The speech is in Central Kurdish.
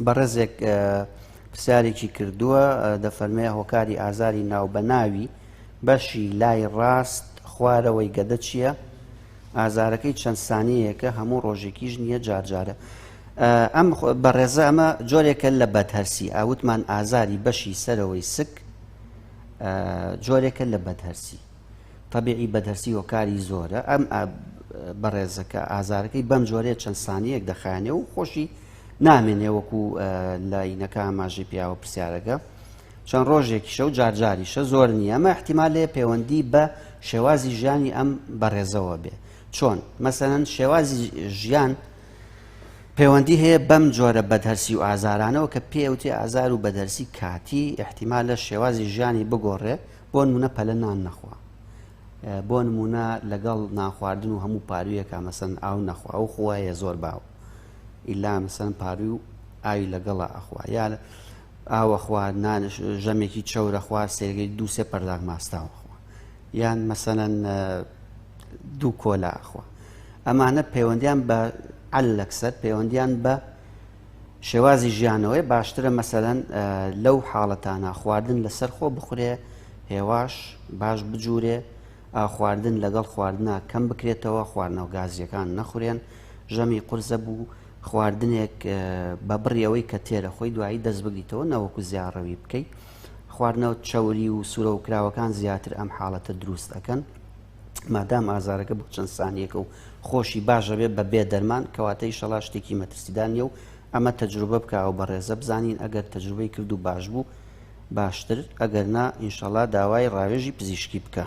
بەڕێزێک پرسیارێکی کردووە دەفەرمێ هۆکاری ئازاری ناوبەناوی بەشی لای ڕاست خوارەوەی گەدە چییە؟ ئازارەکەی چەند سانەیەکە هەموو ڕۆژێکیش نییە جارجارە. ئەم بەڕێزە ئەمە جۆرێکە لە بەدهرسی ئاوتمان ئازاری بەشی سەرەوەی سک جۆرێکە لە بەدهرسی تەبعی بەدەرسی هۆکاری زۆرە ئەم بەڕێزەکە ئازارەکەی بەم جۆرەیە چەند سانیەک دەخانێ و خۆشی نامێنێ وەکو لاینەکە ئاماژەی پیاوە پرسیارەکە چەند ڕۆژێکی شەو جارجاریشە زۆر نییە ئەمە احتیمال لێ پەیوەندی بە شێوازی ژیانی ئەم بەڕێزەوە بێ چۆن مەسەەن شێوازی ژیان پەیوەندی هەیە بەم جۆرە بەدەرسی و ئازارانەوە کە پێوتی ئازار و بەدەرسی کاتی احتیمال لە شێوازی ژیانی بگۆڕێ بۆ نمونە پەلە نان نەخوا بۆ نمونە لەگەڵ نانخواردن و هەموو پارویەکە مەسن ئاو نەخوا ئەو خوایە زۆر باو ئیلا مەسەن پاروی و ئاوی لەگەڵە ئەخوا یا ئاوەخوا نانش ژەمێکی چەورە خوار سێگەی دووسێ پەرداغ ماستاوەخوا یان مەسەەن دوو کۆلا ئەخوا ئەمانە پەیوەندیان بە عەلەکسەر پەیوەندیان بە شێوازی ژیانەوەی باشترە مەسەلەن لەو حاڵەتانە خواردن لەسەر خۆ بخورێ هێواش باش بجوورێ ئاخواردن لەگەڵ خواردنا کەم بکرێتەوە خواردنەوە گازیەکان نەخورێن ژەمی قرزە بوو خواردنێک بە بڕیەوەی کە تێرە خۆی دوایی دەست بگریتەوە نەوەکو زیاڕەوی بکەیت خواردنەوە چەوری و سوورە و کراوەکان زیاتر ئەم حاڵەتە دروست ئەەکەن مادام ئازارەکە بۆ چەند سانیەکە و خۆشی باشەبێ بە بێ دەرمان کەواتە ئیشەڵا شتێکی مەترسیدار نیە و ئەمە تەجروبە بکەوە بە ڕێزە بزانین ئەگەر تەجروبەی کرد و باش بوو باشتر ئەگەر نا ئینشەڵا داوای ڕاوێژی پزیشکی بکە.